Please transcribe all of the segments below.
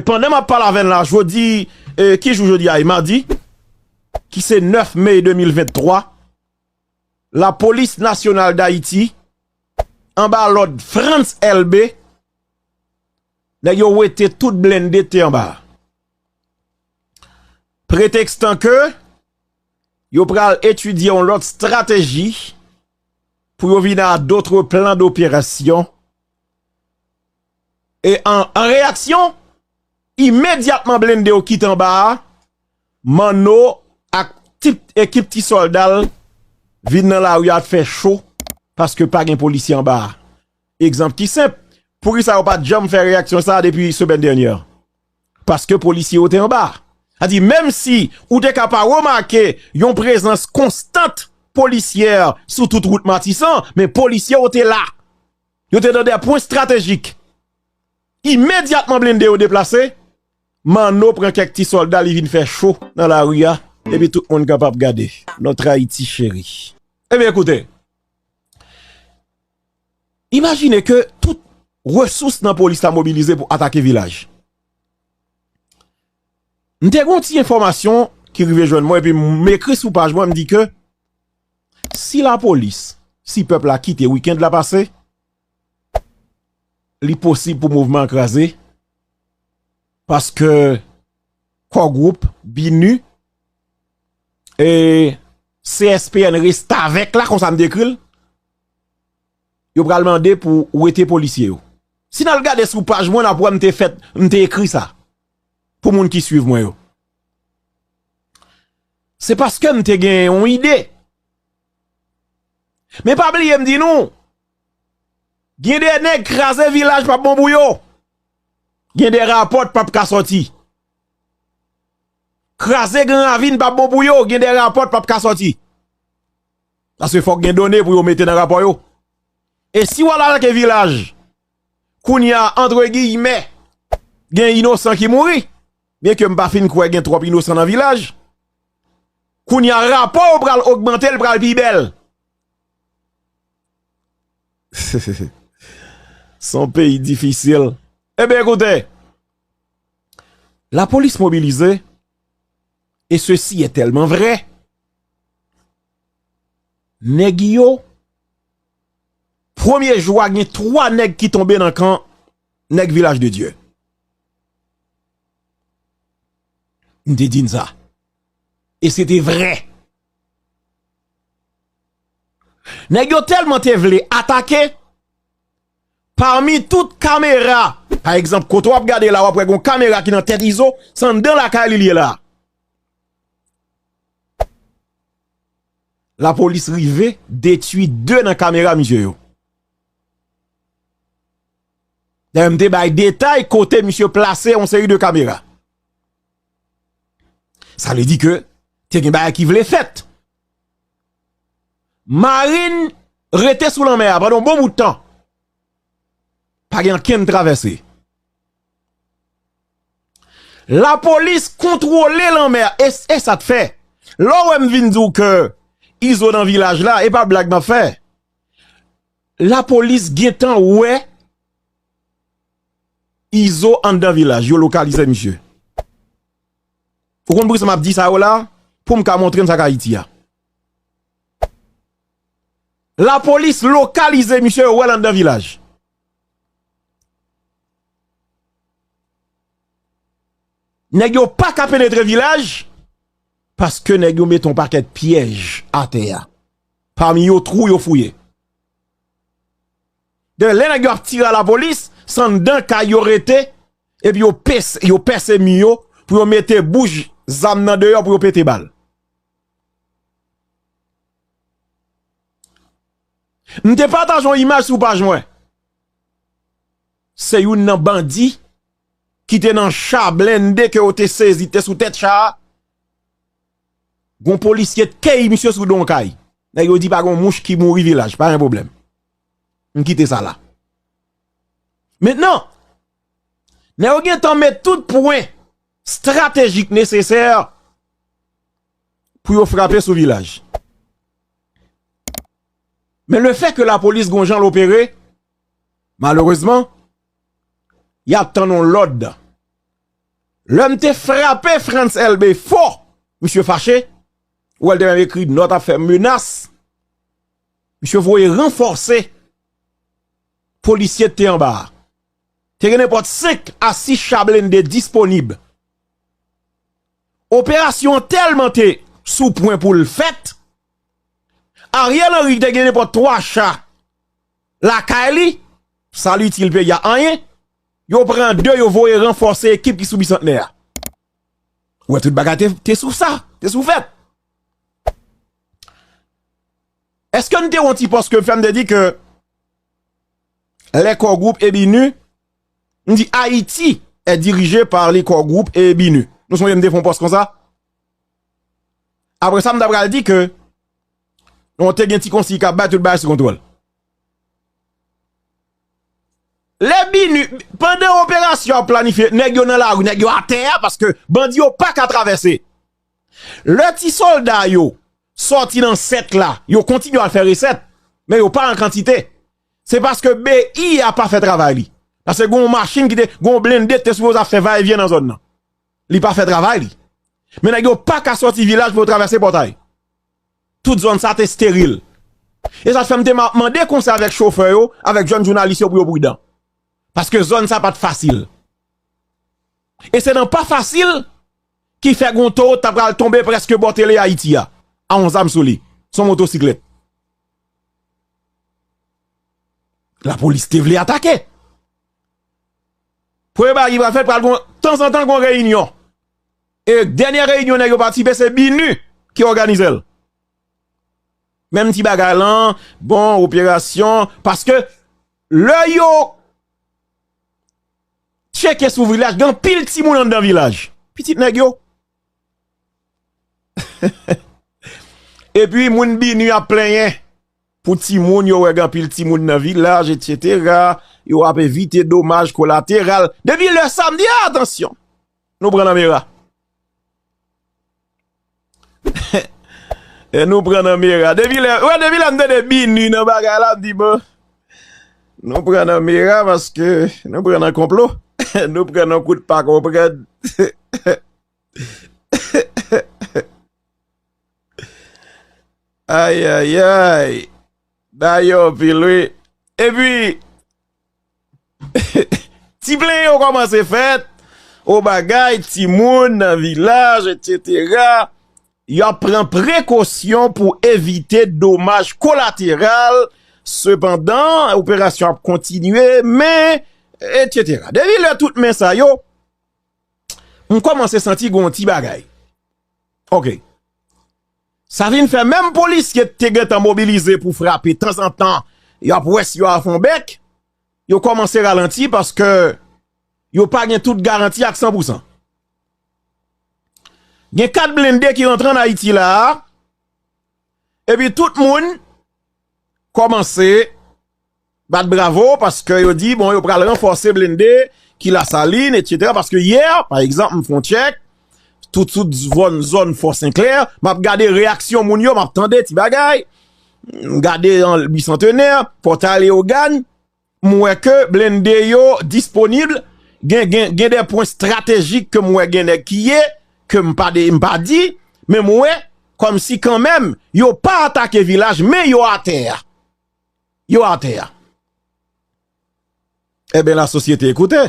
Pandan map pale avè n la jodi ki jou jodi a e madi ki se 9 me 2023 la polis nasyonal dayiti anba lòd Frantz Elbe nèg yo wete tout blende ki te anba a pretèkstan ke yo pral etidye yon lòt estrateji pou yo vin a dotre plan doperasyon E an reyaksyon, imedyatman blende yo kite anba a, Manno ak tout ekip ti sòlda l vin nan lari a fè cho paske pa gen polisye anba a. Egzanp ki senp, poukisa yo pa t janm fè reyaksyon sa a depi semèn dènyè? Paske polisye yo te anba a. Sa di menm si ou te ka pa remake yon prezans konstant polisyè sou tout wout Matisan, men polisye yo te la. Yo te nan de pwen stratejik. Imedyatman blende yo deplase, Manno pran kèk ti sòlda li vin fè cho nan lari a epi tout moun kapab gade. Notre Haïti chérie. Ebyen koute, imajine ke tout resous nan polis la mobilize pou atake vilaj. M te gen yon ti enfòmasyon ki rive jwenn mwen epi m ekri sou paj mwen m di ke, Si la polis, si pèp la kite weekend la pase, li posib pou mouvman an kraze, paske Core Group, BINUH, e CSPN restavèk la, konsa m dekri l, yo pral mande pou wete polisye yo. Si n al gade sou paj mwen, n ap wè m te fèt, m te ekri sa, pou moun ki swiv mwen yo. Se paske m te gen yon ide. Men pa bliye m di nou, gen de nèg kraze vilaj pa bon pou yo. Gen de rapò t pap ka soti. Kraze gran ravin pa bon pou yo, gen de rapò t pap ka soti. Paske fòk gen done pou yo mete nan rapò yo. E si wal atake vilaj, kounye a, antre giyimè, gen inosan ki mouri. Byen ke m pa fin kwè gen twòp inosan nan vilaj, kounye a rapò yo pral ogmante, l pral pi bèl. S on peyi difisil. Ebyen koute, lapolis mobilize, e sesi e tèlman vre, nèg yo, premye jou a gen 3 nèg ki tonbe nan kan nèg vilaj de Dye. M te di n sa. E se te vre. Nèg yo tèlman te vle atake, pami tout kamera, pa egzanp kote w ap gade la w ap wè gon kamera ki nan tèt Izo, se anndan lakay li li ye la. Lapolis rive detui 2 nan kamera misye yo. Dayè m te bay detay kote misye plase yon seri de kamera. Sa vle di ke te gen bagay ki vle fèt. Marin rete sou lanmè a pandan yon bon bout tan. Pa gen ankenn travèse. La polis kontwole lanmè a. E sa te fè. Lò wè m vin di w ke izo nan vilaj la e pa blag m ap fè. La police gentan wè Izo anndan vilaj yo lokalize misye Ou konn poukisa map di sa yo la poum ka montre n sak ayiti a La police lokalize misye yo wèl anndan vilaj. Nèg yo paka penetre vilaj paske nèg yo mete yon pakèt pyèj atè a. Pami yo twou yo fouye. Dèyè lè nèg yo ap tire a la polis, se anndan kay yo rete epi yo pèse mi yo pou yo mete bouch zam nan deyò pou yo pete bal. M te pataje yon imaj sou paj mwen. Se youn nan bandi ki te nan cha blende ke yo te sezi te sou tèt cha a. Gon polisye tkey misye sou don kay. Nèg yo di pa gon mouch ki mouri vilaj. Pa gen pwoblèm. M kite sa la. Mentnan, nèg yo gen tan met tout pwen stratejik nesesè pou yo frape sou vilaj. Men le fè ke la polis gon jan l opere, malerezman, y ap tann yon lòd. Lè m te frape Frantz Elbe fò, misye fache, ou wè l te menm ekri nòt ap fè menas, misye voye ranfòse polisye k te anba a. Te gen nenpòt 5 a 6 cha blende disponib. Operasyon an tèlman te sou pwen pou l fèt, Ariel Henry ki te gen nenpòt 3 cha, Lakay li, sa li itil peyi a? Anyen. Yo pran 2, yo voye ranfòse ekip ki sou Bisantnè a. Ou wè tout bagay te sou sa, te sou fèt. Eske nou te wè yon ti pòs ke m fè, m te di ke lè Core Group e BINUH, m di Ayiti è dirije par le Core Group e BINUH. Nou sonje m te fè yon pòs konsa? Apre sa m ta pral di ke Yon te gen ti konsiy kap bay tout bagay sou kontwòl. Lè binu, pandan operasyon ap planifye, nèg yo nan lari, nèg yo atè a, paske bandi yo pa ka travèse. Lè ti solda yo sòti nan sèk la, yo kontinye al fè resèt, men yo pa an kantite. Se paske BI a pa fè travay li. Paske gen yon machin ki te, gen yon blende ki te sipoze ap fè va e vyen nan zòn nan. Li pa fè travay li. Men nèg yo pa ka sòti vilaj pou yo travèse pòtay. Tout zòn sa te steril. E sa t fè m te mande konsèy avèk chofè yo, avèk jèn jounalis yo pou yo pridan. Paske zòn sa pa t fasil. E se nan pa fasil ki fè gen yon towo ta pral tonbe prèske bò tele Ayiti a, a yon zam sou li, sou yon motosiklèt. Lapolis te vle atake. Premye bagay ki pral fèt pral gen yon, tanzantan gen yon reyinyon. E dènyè reyinyon nèg yo patisipe se BINUH ki òganize l. Menm ti bagay lan, bon operasyon, paske lè yo tcheke sou vilaj gen anpil timoun anndan vilaj. Pitit nèg yo. Epi moun BINUH ap plenyen pou timoun yo wè gen anpil timoun nan vilaj etsetera, yo ap evite domaj kolateral. Depi lè sa m di atansyon. Nou pran nan mera. E nou pran nan mera. Depi lè, wè depi lè m tande binu nan bagay la, m di bon. Nou pran nan mera paske nou pran nan konplo. Nou pran nan kout pa konprann. Ayayay. Dayò anpil wi. E pi. Ti plenyen yo kòmanse fèt, o bagay timoun nan vilaj etsetera, yo ap pran prekosyon pou evite domaj kolateral, sepandan operasyon ap kontinye, men, etsetera. Depi lè tout men sa yo, m kòmanse santi gen yon ti bagay. Ok. Sa vin fè menm polisye ki te gentan mobilize pou frape tanzantan yo ap wè si yo a fon bèk, yo kòmanse ralanti paske yo pa gen tout garanti ak san pou san. Gen 4 blende ki rantre an Ayiti la a, epi tout moun kòmanse. Bat bravo paske yo di bon yo pral ranfòse blende ki lasalin etc paske yè pa egzanp m fon tchèk tout tout zòn fò senklè map gade reyaksyon moun yo map tande ti bagay m gade bisantenè pòtay leogane m wè ke blende yo disponible gen gen gen de pwen stratejik ke m wè gen nèg ki ye ke m pa de m pa di men m wè kòm si kanmèm yo pa atake vilaj men yo atè a. yo atè a. Eben la sosyete ekoute.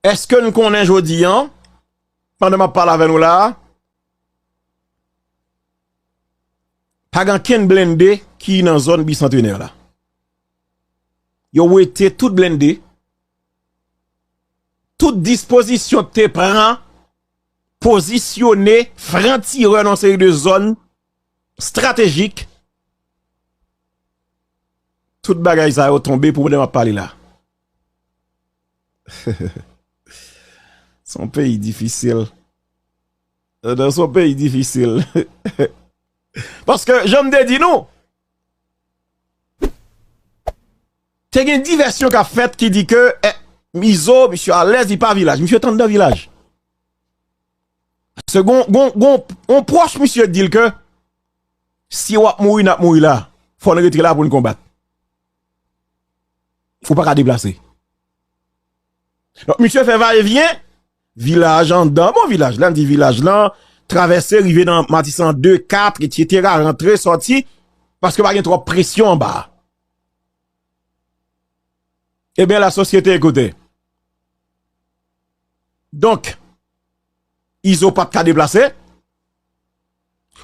Eske nou konnen jodi an, pandan map pale avè nou la, pa gen ken blende ki nan zon bicentenè la. Yo wete tout blende, tout dispozisyon te pran, pozisyone, franti re nan seri de zon stratejik tout bagay sa yo tonbe pou mwen ap pale la son peyi difisil nan son peyi difisil paske janm de di nou te gen divèsyon ka fèt ki di ke mizo misye alèz li pa vilaj misye tann nan vilaj Paske gon, gon, gon yon pwòch misye di l ke si wap mouri nap mouri la, fò n rete la pou n konbat. Ou pa ka deplase. Donk misye fè va e vyen, vilaj andan, bon vilaj, lè n di vilaj lan, travèse rive nan Matisan 2, 4, etsetera, rantre, sòti, paske pa gen twòp presyon anba. Eben la sosyete ekoute. Donk, Izo pa t ka deplase.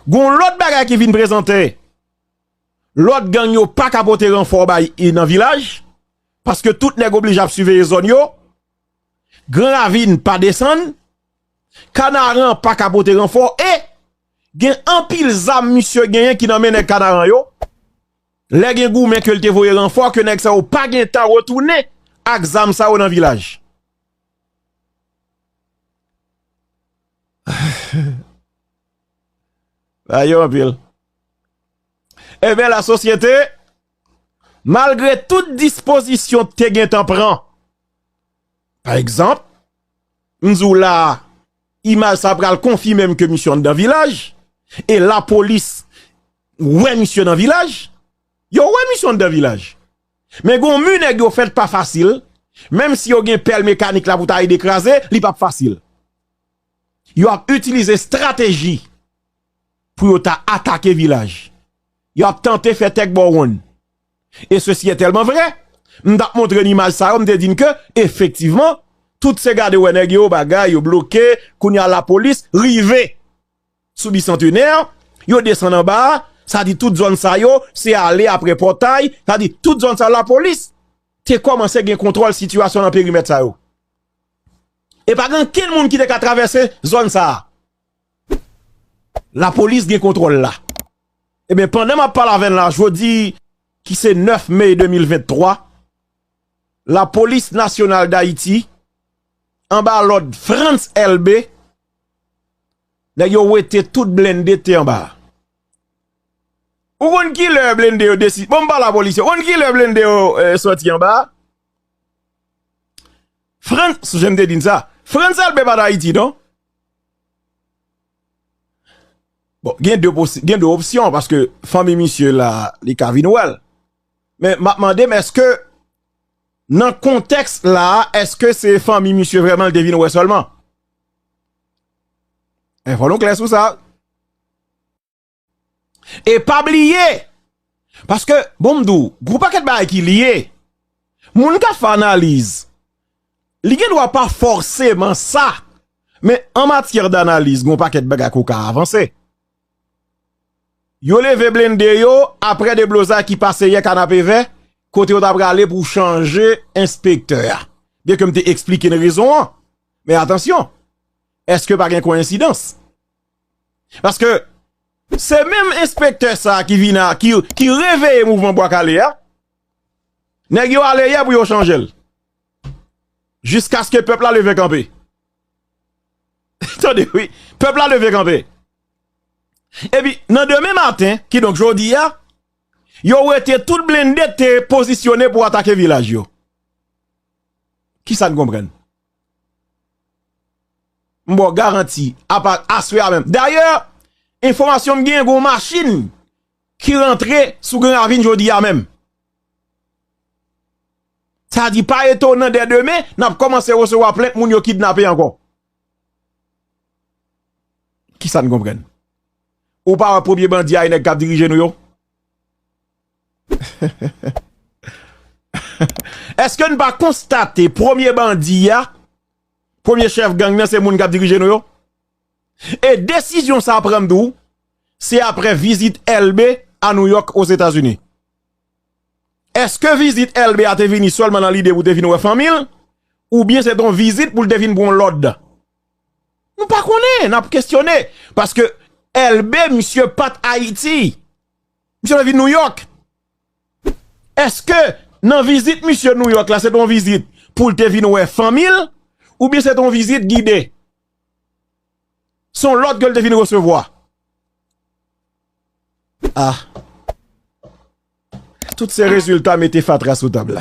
Gon lòt bagay ki vin prezante, lòt gang yo pa ka pote ranfò bay I nan vilaj, paske tout nèg oblije ap siveye zòn yo, Gran Ravin pa desann, Kanaran pa ka pote ranfò e gen anpil zam misye genyen ki nan men nèg Kanaran yo, lè gen goumen ke l te voye ranfò ke nèg sa yo pa gen tan retounen ak zam sa yo nan vilaj. Sa yo anpil. Eben la sosyete, malgre tout dispozisyon te gen tan pran, pa egzanp, m di w la, imaj sa pral konfime m ke misye anndan vilaj, e lapolis wè misye nan vilaj, yo wè misye anndan vilaj. Men gon mu nèg yo fèt pa fasil, menm si yo gen pèl mekanik la pou ta ede kraze, li pap fasil. Yo ap itilize strateji pou yo ta atake vilaj. Yo ap tante fè tèk bò wonn. E sesi e tèlman vre, m tap montre n imaj sa yo, m te di n ke efektivman, tout se gade wè nèg yo, bagay yo bloke, kounye a lapolis rive. sou Bicentenaire, yo desann anba, sa di tout zòn sa yo, se ale apre pòtay, sa di tout zòn sa lapolis te kòmanse gen kontwòl sitiyasyon nan perimèt sa yo. E pa gen ankenn moun ki te ka travèse zòn sa. Lapolis gen kontwòl la. E ben pandan map pale avèn la jodi ki se 9 mey 2023, lapolis nasyonal dayiti anba lòd Frantz Elbe Nèg yo wete tout blende te anba a. Ou konn ki lè blende yo desi... Bon m pa la polisye. Ou konn ki lè blende yo soti anba a? Frantz, sou jan m te di n sa. Frantz Elbe pa Dayiti non. Bon, gen de posi... Gen de opsyon paske fanmi misye la li ka vin wè l. Men m ap mande m eske nan kontèks la a eske se fanmi misye vreman l te vin wè sèlman? Enfo nou klè sou sa. E pa bliye, paske bon m di w, gwo pakèt bagay ki liye, moun ka fè analiz, li gen dwa pa fòseman sa, men an matyè d'analiz gwo pakèt bagay kou ka avanse. Yo leve blende yo apre deblozay ki pase yè kanapevè, kote yo ta prale pou chanje enspektè a. Byen ke m te eksplike n rezon an, Men atansyon, eske pa gen koyensidans? Paske, se menm enspektè sa ki vina, ki reveye mouvman bwa kale a, nèg yo ale yè pou yo chanjel. Jiskaske pèp la leve kanpe. Tande wi, pèp la leve kanpe. Epi, nan demen maten, ki donk jodi a, yo wete tout blende te pozisyone pou atake vilaj yo. Kisa n konprann? M ba w garanti, apa aswè a menm. Dayè, enfòmasyon m gen, gen yon machin ki rantre sou Gran Ravin jodi a menm. Sa vle di pa etonan dè demen, n ap kòmanse resevwa plent moun yo kidnape ankò. Kisa n konprann? Ou pa wè premye bandi a e nèg k ap dirije nou yo? Eske n pa konstate premye bandi a, premye chèf gang nan se moun k ap dirije nou yo? E desizyon sa pran tou, se apre vizit Elbe a Nouyòk Ozetazini. Eske vizit Elbe a te vini sèlman nan lide pou te vin wè fanmi l? Oubyen se te yon vizit pou l te vin pran lòd? Nou pa konnen, n ap kesyone. Paske Elbe misye pa t Ayiti. Misye vle vin New York. Eske nan vizit misye New York la se ton vizit pou l te vin wè fanmi l ou byen se ton vizit gide? Son lòd ke l te vin resevwa. Ah. Tout se rezilta mete fatra sou tab la.